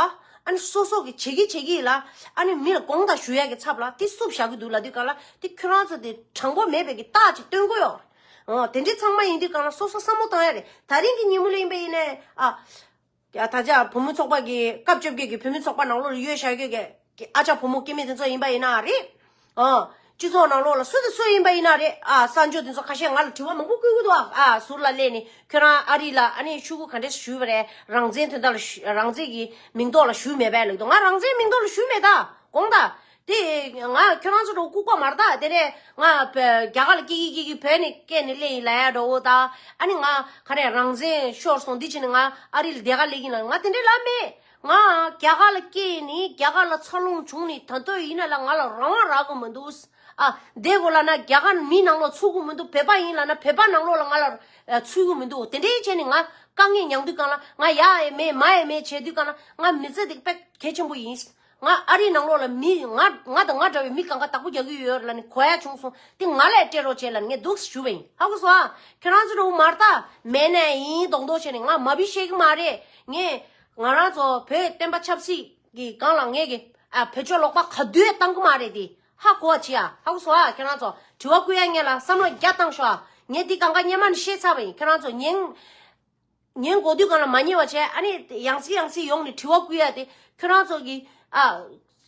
ཨ་ནི་སོ་སོ་གི་བྱེད་ཀྱི་བྱེད་ཀྱི་ལ་ཨ་ནི་མི་ལ་དགོངས་དག་ཞུ་ཡག་གི་ཚབ་ལ་དེ་སུབ་བཞག་གི་འདུག་ལ་དུས་གང་ལ་དེ་ཁྱོད་རང་ཚོ་དེ་དྲང་པོ་མེད་པའི་གི་རྟགས་ཅིག་སྟོན་གོ་ཡོག་རེད་དེ་འདྲི་ཚང་མ་ཡིན་དུས་གང་ལ་སོ་སོ་བསམ་བློ་གཏང་ཡག་རེད་ད་རིང་གི་ཉིན་མོ་ལོ་ཡིན་པ་ཡིན་ནའི་ཨ། ད་ཆ་བུ་མོ་ཚོགས་པ་གི་སྐབས་བཅོ་བརྒྱད་ཀྱི་བུ་མོ་ཚོགས་པ་ནང་ལོ་རེ་ཡོད་བཞག་ཡོད་གི། ཀྱི་ཨ་ཅག་ཕོ་མོ་སྐྱེ་མེད་དེ་ཚོ་ཡིན་པ་ཡིན་ན་རེད། སྤྱི་ཚོགས་ནང་ལོགས་ལ་སུ་དང་སུ་ཡིན་པ་ཡིན་ན་རེད། གསར་འབྱོར་དེ་ཚོ་ཁ་ཤས་ང་ལ་དྲི་བ་མང་པོ་བསྐུལ་གི་འདུག་ཨ། ཟུར་ལ་སླེབས་ནས་ཁྱོད་རང་ཨ་རི་ལ་ཨ་ནེ་ཕྱུག་གུ་ག་འདྲས་སུ་ཞུས་པ་རེད་རང་བཙན་དོན་དག་ལ་རང་བཙན་གྱི་མིང་ཐོག་ལ་ཞུས་མེད་པས་ལེགས་འདུག་ང་རང་བཙན་མིང་ཐོག་ལ་ཞུས་མེད་ད་དགོངས་དང། དེ་ང་ཁྱོད་རང་ཚོ་འདྲ་བོ་ལྐུགས་པ་མ་རེད་ད་དེ་ནས་ང་རྒྱ་གར་ལ་སྐྱེས་ཀྱི་སྐྱེས་ཀྱི་བོད་ནས་སྐད་ནས་གླེང་ཡིན་ལ་ཡ་འདྲ་བོ་ད་ཨ་ནི་ང་ག་རེ་རང་བཙན་ཤོར་སོང་འདི་བྱས་ནས་ང་ཨ་རི་ལ་བསྡད་ག་ལེགས་ཡིན་ལ་ང་དེ་འདྲས་ལབ་མེད། ང་རྒྱ་གར་ལ་སྐྱེས་ཡིན་ནི་རྒྱ་གར་ལ་འཚར་ལོངས་བྱུང་ནི་ད་དོད་ཡིན་ན་ལ་ང་ལ་རང་དབང་རག་གི་མི་འདུག་ཨ། དེ་གོ་ལ་ན་རྒྱ་གར་ནི་མིའི་ནང་ལོག་ཚུད་གི་མི་འདུག་བོད་པ་ཡིན་ལ་ན་བོད་པ་ནང་ལོག་ལ་ང་ལ་ཚུད་གི་མི་འདུག་དེ་འདྲའི་ཆེད་ནི་ང་དཀའ་ངལ་མྱངས་དུས་གང་ལ་ང་ཡ་ཡས་མས་མ་ཡས་མས་བྱས་དུས་གང་ལ་ང་མི་ཚེ་འདི་དཔེ་གལ་ཆེན་པོ་ཡིན། ང་ཨ་རིའི་ནང་ལོག་ལ་མི་ང་ང་དང་ང་འདྲ་བའི་མི་གང་ག་དག་པོ་རྒྱག་གི་ཡོད་ལ་ནི་གོ་ཡ་བྱུང་སོང་དེ་ང་ལས་སྤྲད་རོགས་བྱས་ལ་ནི་ངས་སྡུག་ཞུ་བ་ཡིན་ཧ་གོ་སོང་ཨ། ཁྱོད་རང་ཚོ་འདྲ་བོ་མ་རྟག་མེད་ནས་ཡིན་མདོག་མདོག་བྱས་ནི་ང་མ་བུ་ཤེས་གི་མ་རེད་ངས། ང་རང་ཚོ་བོད་བསྟན་པ་ཆབ་སྲིད་ཀྱི་སྒང་ལ་ངེས་ཀྱི་བོད་ཆོས་ལོག་པ་ག་དུས་བཏང་གི་མ་རེད་དེ་ཧ་གོ་བ་བྱེད་ཨ་ཧ་གོ་སོང་ཨ་ཁྱེད་རང་ཚོ་དྲི་བ་བསྐུལ་ཡ་ངེས་ལ་བསམ་བློ་རྒྱ་བཏང་ཤོག་ཨ་ངས་འདི་གང་ག་སྙན་མ་ནི་ཤེས་ཚར་བ་ཡིན་ཁྱེད་རང་ཚོ་ཉན་ཉན་གོ་དུས་གང་ལ་མ་ཉན་བ་བྱས་ཨ་ནི་ཡང་སྲིད་ཡང་སྲིད་ཡོང་ནི་དྲི་བ་བསྐུལ་ཡ་དེ་ཁྱེད་རང་ཚོ་གི་ཨ་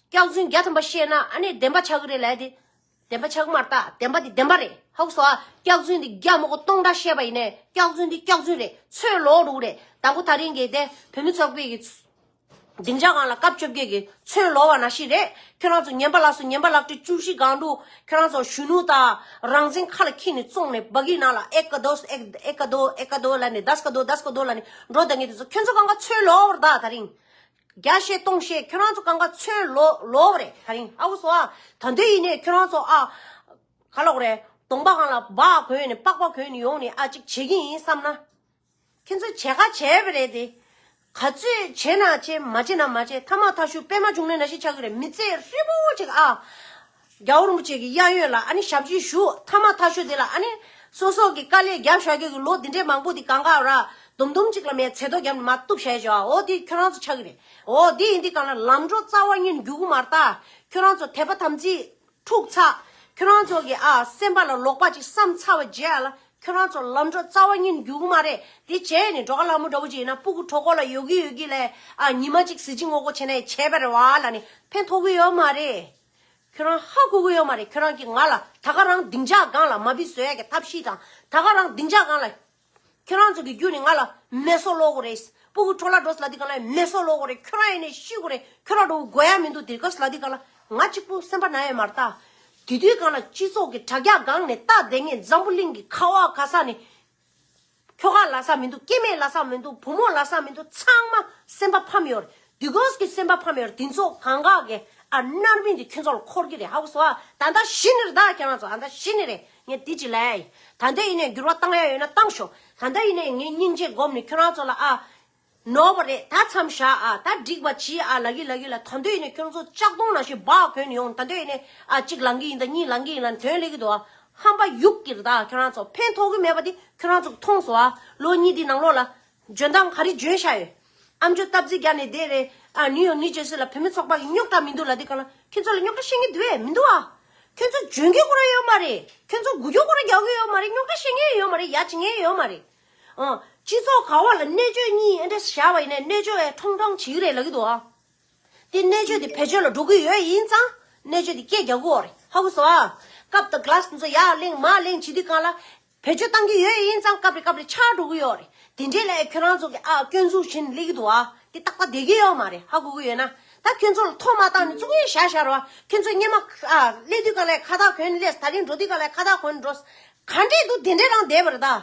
སྐྱག་རྫུན་རྒྱ་ཐམ་པ་བཤད་ན་ཨ་ནི་བདེན་པ་ཆགས་གི་རེད་ལ་ཡ་དེ། བདེན་པ་ཆགས་མར་བཏགས་བདེན་པ་འདི་བདེན་པ་རེད་ཧཱུྃ་སོགས་ཨ་སྐྱག་རྫུན་འདི་སྐྱག་མོ་སྒོ་སྟོང་འདྲ་བཤད་པ་ཡིན་ནས་སྐྱག་རྫུན་འདི་སྐྱག་རྫུན་རེད་ཚོས་ལོག་རུག་རེད་དང་པོ་ད་རིང་གི་དེ་བོད་མི་ཚོགས་པའི་གི་སྡིངས་ཆ་གང་ལ་སྐབས་བཅོ་བརྒྱད་གི་ཚོས་ལོག་བ་ན་ཞིག་རེད་ཁྱོད་རང་ཚོ་ཉན་པ་ལགས་སོ་ཉན་པ་ལགས་ཁྲི་བཅུ་བཞི་སྒང་དུ་ཁྱོད་རང་ཚོ་གཞོན་ནུ་དང་རང་བཙན་ཁ་ལ་འཁྱིལ་ནས་བཙོང་ནས་བག་ཡིག་ནང་ལ་ཨེ་ཀ་དོས་ཨེ་ཨེ་ཀ་དོ་ཨེ་ཀ་དོ་ལ་ནས་རྡ་སྐ་དོ་རྡ་སྐ་དོ་ལ་ནས་འགྲོ་ད་ངས་དེ་ཚོ་ཁྱོད་ཚོ་གང་ག་ཚོས་ལོག་བར་གདའ་ད་རིང་བརྒྱ་བཤད་སྟོང་བཤད་ཁྱོད་རང་ཚོ་གང་ག་ཚོད་ལོ་ལོ་བ་རེད་ད་རིང་ཨ་བུ་སོ་ཨ་ད་འདོད་ཡིན་ནས་ཁྱོད་རང་ཚོ་ཨ། ག་ལོག་རེད་དོང་པ་གང་ལ་སྦག་གོན་ནས་པགས་པ་གོན་ནས་ཡོང་ནས་ཨ་ཅིག་བྱེད་ཀྱི་ཡིན་བསམ་ན། ཁྱོད་ཚོ་བྱས་ག་བྱས་པ་རེད་དེ། ག་ཚོད་བྱས་ན་བྱས་མ་བྱས་ན་མ་བྱས་ཐ་མག་ཐ་ཤུ་པད་མ་བྱུང་ནས་ན་ཞིག་ཆགས་ཀྱི་རེད་མི་ཚེ་ཧྲིལ་པོ་ཅིག་ཨ། རྒྱ་བོར་མོ་བཅས་ཀྱི་གཡག་ཡོད་ལ་ཨ་ནི་ཞབས་ཀྱིས་ཞུ་ཐ་མ་ཐ་ཤོད་དེ་ལ་ཨ་ནི། སོ་སོག་གི་དཀའ་ལས་རྒྱབ་བཞག་ཁྱོད་ཀྱི་ལོ་འདི་འདྲའི་མང་པོ་འདི་གང་གཱའོ་ར། དུམ་དུམ་གཅིག་ལ་མའི་ཚེ་རྡོ་རྒྱབ་ནི་མ་གཏུབ་ཞལ་བྱེ་བའོ་འདི་ཁྱོད་རང་ཚོ་ཆགས་ཀྱི་རེད་འོ་འདི་ཡིན་འདི་གང་ལ་ལམ་འགྲོ་རྩ་བ་ཉིད་འགྱུ་གུ་མར་བལྟ། ཁྱོད་རང་ཚོ་དད་པ་དམ་ཚིག་འཁྲུག་ཚ། ཁྱོད་རང་ཚོ་གི་ཨ་སེམས་པ་ལ་ལོག་པ་ཅིག་བསམ་ཚར་བ་རྗེས་ཨ་ལ་ཁྱོད་རང་ཚོ་ལམ་འགྲོ་རྩ་བ་ཉིད་འགྱུ་གུ་མ་རེད་འདི་བྱས་ནི་འགྲོ་ག་ལ་མོ་འདྲ་བོ་ཅིག་ཡིན་ན་སྤུ་གུ་གྲོག་གོ་ལ་ཡོད་གི་ཡོད་གི་ལས་ཨ་ཉི་མ་ཅིག་གཟི་བརྗིད་ངོ་རྒོ་བྱས་ནས་བྱས་པ་རེད་བ་ལ་ནི་ཕན་ཐོག་གི་ཡོད་མ་རེད། ཁྱོད་རང་ཧ་གོ་གི་ཡོད་མ་རེད་ཁྱོད་རང་གིས་ང་ལ་ད་ག་རང་སྡིངས་ཆགས་སྒང་ལ་མ་བི་བཟོ་ཡ་གི་ཐབས་ཤེས་དང་ད་ག་རང་སྡིངས་ཆགས་སྒང་ལ། ཁྱོད་རང་ཚོ་གི་རྒྱུ་ནི་ང་ལ་མེ་སོ་ལོ་གོ་རེད་སྤུ་གུ་ཁྲོ་ལ་འགྲོ་སླ་དི་ག་ན་ཡོད་མེ་སོ་ལོ་གོ་རེད་ཁྱོད་རང་ཡེ་ནས་ཤི་གོ་རེད་ཁྱོད་རང་འགྲོ་གོ་ཡ་མི་འདུག་དེ་སྐབས་སླ་དི་ག་ལ་ང་གཅིག་པུ་སེམས་པ་ན་ཡོད་མ་རེད་ད་དེ་དུས་གང་ལ་སྤྱི་ཚོགས་གི་དྲ་རྒྱ་སྒང་ནས་རྟ་བདེ་ངས་འཛམ་བུ་གླིང་གི་ཁ་བ་ག་ས་ནས་ཁྱོ་ག་ལ་ས་མི་འདུག་སྐྱེ་མེད་ལ་ས་མི་འདུག་བུ་མོ་ལ་ས་མི་འདུག་ཚང་མ་སེམས་པ་ཕམ་ཡོད་རེད་དུས་གོས་ཀྱི་སེམས་པ་ཕམ་ཡོད་རེད་དེ་ཚོ་གང་ག་གི་ཨ་མནར་མིན་དེ་ཁྱོད་ཚོ་ལ་འཁོར་གྱི་རེད་ཧ་གོ་སོ་ཨ་ད་ལྟ་ཤི་ནི་རེད་ད་ཁྱེད་རང་ཚོ་ཨ་ད་ཤི་ནི་རེད་ངས་དེ་ཅི་ལ་ཡ་ཡིན་ད་ལྟ་ཡིན་ནས་འགྱུར་བ་བཏང་ཡ་ཡོད་ན་བཏང་ཤོག་ད་ལྟ་ཡིན་ནས་ངས་སྙིང་རྗེ་སྒོམ་ནས་ཁྱོད་རང་ཚོ་ལ་ཨ། ནོར་བ་རེད་ད་མཚམས་བཞག་ཨ་ད་འགྲིག་པ་གྱིས་ཨ་ལགས་ཡུལ་ལ་ཡུལ་ལ་ད་འདོད་ཡིན་ན་ཁྱོད་ཚོ་ལྕགས་སྡོང་ནང་བཞིན་བག་གོན་ནས་ཡོང་ད་འདོད་ཡིན་ནས་ཨ་གཅིག་ལང་གི་ཡིན་ད་གཉིས་ལང་གི་ཡིན་ལ་དོན་ལེགས་ཀྱི་འདུག་ཨ་ཧམ་པ་ཡུག་གིར་ད་ཁྱོད་རང་ཚོ་ཕན་ཐོགས་ཀྱི་མེད་པ་དེ་ཁྱོད་རང་ཚོ་མཐོང་སོང་ཨ་ལོ་གཉིས་དེའི་ནང་ལོགས་ལ་འཇོན་ཐང་ག་རེ་འཇོན་ཤག་ཡོད་ཨ་མཆོད་སྟབས་རྩིས་རྒྱག་ནས་བསྡད་རེད་ཨ་ནིའུ་ཡོག་ནིའུ་ཇེར་སི་ལ་བུད་མེད་ཚོགས་པ་གི་རྙོག་དྲ་མི་འདུག་ལ་དེ་གང་ལ་ཁྱོད་ཚོ་ལ་རྙོག་དྲ་བཤད་མཁན་དུ་བས་མི་འདུག་ཨ་ཁྱོད་ཚོ་འཇོན་གི་ཀུ་རེ་ཡོད་མ་རེད་ཁྱོད་ཚོ་དགུ་སྐྱོ་ཀུ་རེ་རྒྱག་གི་ཡོད་མ་རེད་རྙོག་དྲ་བཤད་མཁན་ཡོད་མ་རེད་ཡ་བྱེད་མཁན་ཡོད་མ་རེད། སྤྱི་ཚོགས་ག་བ་ལ་གནས་བཅོས་གཉིས་ཨེ་འདྲ་བྱ་བ་ཡིན་ནའི་གནས་བཅོས་ཨེ་ཁྲོང་ཁྲོང་བྱེད་ཀྱི་རེད་ལབ་ཀྱི་འདུག་ཨ། དེ་གནས་བཅོས་དེ་བེད་སྤྱོད་ལ་འགྲོ་གི་ཡོད་ཡིན་ཙང་གནས་བཅོས་དེ་སྐད་རྒྱག་གི་འོ་རེད་ཧ་གོ་སོང་ཨ། སྐབས་དང Glass འདི་ཚོ་ཡར་གླེང་མར་གླེང་བྱེད་དུས་གང་ལ་བེད་སྤྱོད་བཏང་གི་ཡོད་ཡིན་ཙང་སྐབས་རེ་སྐབས་རེ་ཆགས་འགྲོ་གི་ཡོད་རེད་དེ་འདྲའི་ལས་ཁྱོད་རང་ཚོ་གི་ཨ་སྐྱོན་འཛུགས་བཞིན་སླེབས་ཀྱི་འདུག་ཨ་དེ་ཏག་ཏག་བསྡད་ཀྱི་ཡོད་མ་རེད་ཧ་གོ་གི་ཡོད་ན་ད་ཁྱོད་ཚོ་ལ་ཐོག་མ་བཏང་ནས་གཙུག་གཉིས་བཞག་བཞག་རོགས་ཨ་ཁྱོད་ཚོ་སྙེ་མ་ཨ་སླེབས་དུས་གང་ལ་ཁ་ཐག་གོན་སླེབས་ད་རིང་འགྲོ་དུས་གང་ལ་ཁ་ཐག་གོན་འགྲོ། ག་འདྲས་འདུག་དེ་འདྲས་རང་བསྡད་པར་གདའ།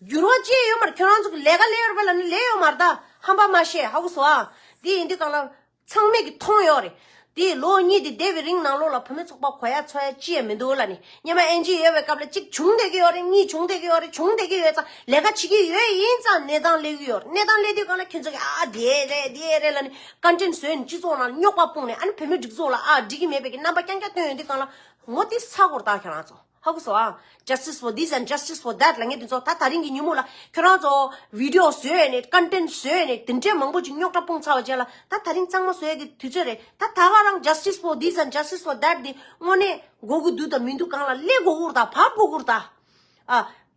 འགྱུར་བ་སྐྱེས་ཡོད་མར་ཁྱོད་རང་ཚོ་གི་ལས་ཀ་ལས་ཡོད་པ་ལ་ནི་ལས་ཡོད་མར་གདའ་ཧམ་པ་མ་བཤད་ཧ་གོ་བཟོ་ཨང། དེ་ཡིན་དུས་གང་ལ། ཚང་མས་ཀྱི་མཐོང་ཡོད་རེད། དེ་ཡི་ལོ་གཉིས་དེ་འདས་པའི་རིང་ནང་ལོགས་ལ་བུ་མོའི་ཚོགས་པ་གོ་ཡ་འཚོ་ཡ་ཅི་ཡང་མི་འདུག་ལ་ནི་སྙེ་མ་ཨེན་ཇི་ཡོད་པའི་སྐབས་ལ་གཅིག་བྱུང་བསྡད་ཀྱི་ཡོད་རེད་གཉིས་བྱུང་བསྡད་ཀྱི་ཡོད་རེད་བྱུང་བསྡད་ཀྱི་ཡོད་ཙང་ལས་ཀ་བྱེད་ཀྱི་ཡོད་ཡིན་ཙང་གནས་སྟངས་གླེང་གི་ཡོད་རེད་གནས་སྟངས་གླེང་དུས་གང་ལ་ཁྱོད་ཚོ་གི་ཨ་ཨ་དེ་རེད་དེ་རེད་ལ་ནི་བཀའ་དྲིན་བཟོས་ནས་སྤྱི་ཚོགས་ནང་ལ་རྙོག་པ་སྤུངས་ནས་ཨ་ནི་བུ་མོའི་སྒྲིག་འཛུགས་ལ་ཨ་ཨ་འགྲིག་གི་མེད་པའི་ཀྱི་རྣམ་པ་རྐྱང་རྐྱང་སྟོན་ཡོད་དུས་གང་ལ། ངོ་ཏི་ས་གོར་དག་ཁྱོད་རང་ཚོ། ཧ་གོ་སོང། Justice for this and Justice for that ལ་ངས་དེ་ཚོ་ད་ད་རིང་གི་ཉིན་མོ་ལ་ཁྱོད་རང་ཚོ Video བཟོས་ནས Content བཟོས་ནས་དེ་འདྲའི་མང་པོ་ཅིག་རྙོག་དྲ་སྤུངས་ཚར་བ་བཅས་ལ་ད་ད་རིང་གཙང་མ་བཟོ་ཡ་གི་དུས་ཚོད་རེད་ད་ད་ག་རང Justice for this and Justice for that འདི་དངོས་གནས་འགོ་གི་འདུག་དང་མི་འདུག་གང་ལ་སླེབས་དགོ་གུར་དང་བབས་དགོ་གུར་དང།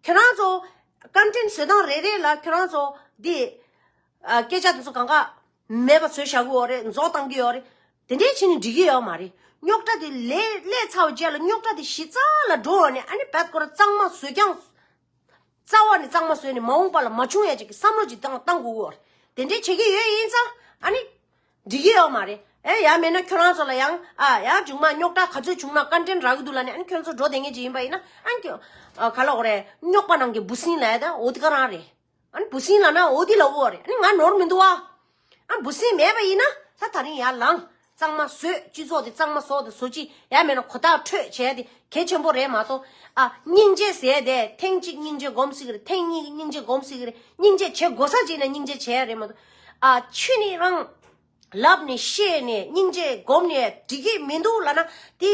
ཁྱོད་རང་ཚོ Content བཟོས་སྟངས་རེ་རེ་ལ་ཁྱོད་རང་ཚོ་འདི་སྐད་ཆ་དེ་ཚོ་གང་ག་མེད་པ་ཚོད་བཞག་གི་ཡོག་རེད་འཛོག་བཏང་གི་ཡོག་རེད་དེ་འདྲའི་ཆེད་ནས་འབྲི་གི་ཡོག་མ་རེད་རྙོག་དྲ་དེ་ལས་ཀླད་ཚ་བ་བཅད་ལ་རྙོག་དྲ་དེ་གཞི་རྩ་ལ་འགྲོ་ཡོག་ནས་ཨ་ནི་བལ་སྐོར་གཙང་མ་བཟོས་ཀྱང་རྩ་བ་ནས་གཙང་མ་བཟོས་ནས་མ་འོངས་པ་ལ་མ་བྱུང་ཡ་ཅིག་གི་བསམ་བློ་ཅིག་བཏང་དགོས་གི་ཡོག་རེད་དེ་འདྲའི་བྱེད་ཀྱི་ཡོད་ཡིན་ཙང་ཨ་ནི་འབྲི་གི་ཡོག་མ་རེད་ཨེ་ཡ་མེད་ན་ཁྱོད་རང་ཚོ་ལ་ཡང་ཨ་ཡ་ཅུང་མ་རྙོག་དྲ་ག་ཚོད་བྱུང་ན་བཀའ་དྲིན་རག་གི་འདུག་ལ་ནས་ཨ་ནི་ཁྱོད་ཚོ་འགྲོ་བསྡད་ངེས་ཅིག་ཡིན་པ་ཡིན་ན་ཨ་ནི་ཁྱོད་ག་ལ་འོག་རེད་རྙོག་པ་ནང་གི་འབུ་སྲིན་ལ་ཡ་ད་འོ་དི་ག་རང་རེད། ཨ་བུ་སྲིང་ལ་ན་འོ་དེ་ལ་འོ་རེད་ཨ་ང་ནོར་མི་འདུག་ཨ། ཨ་བུ་སྲིང་མེད་པ་ཡིན་ན་ད་ད་རིང་ཡར་ལངས་གཙང་མ་བཟོས་སྤྱི་ཚོགས་དེ་གཙང་མ་བཟོ་དེ་བཟོ་ཅི་ཡ་མེད་ན་གོ་ཐག་འཕྲོད་བྱས་དེ་གལ་ཆེན་པོ་རེད་མ་གཏོགས་ཨ། སྙིང་རྗེ་ཟས་དེ་ཐེངས་གཅིག་སྙིང་རྗེ་སྒོམ་སྲིད་ཀྱི་རེད་ཐེངས་གཉིས་ཀྱི་སྙིང་རྗེ་སྒོམ་སྲིད་ཀྱི་རེད་སྙིང་རྗེ་བྱེད་དགོས་ས་བྱས་ནས་སྙིང་རྗེ་བྱས་རེད་མ་གཏོགས་ཨ། ཆུ་ནི་རང་ལབ་ནས་ཤེས་ནས་སྙིང་རྗེ་སྒོམ་ནས་འགྲིག་གི་མི་འདུག་ལ་ན་དེ།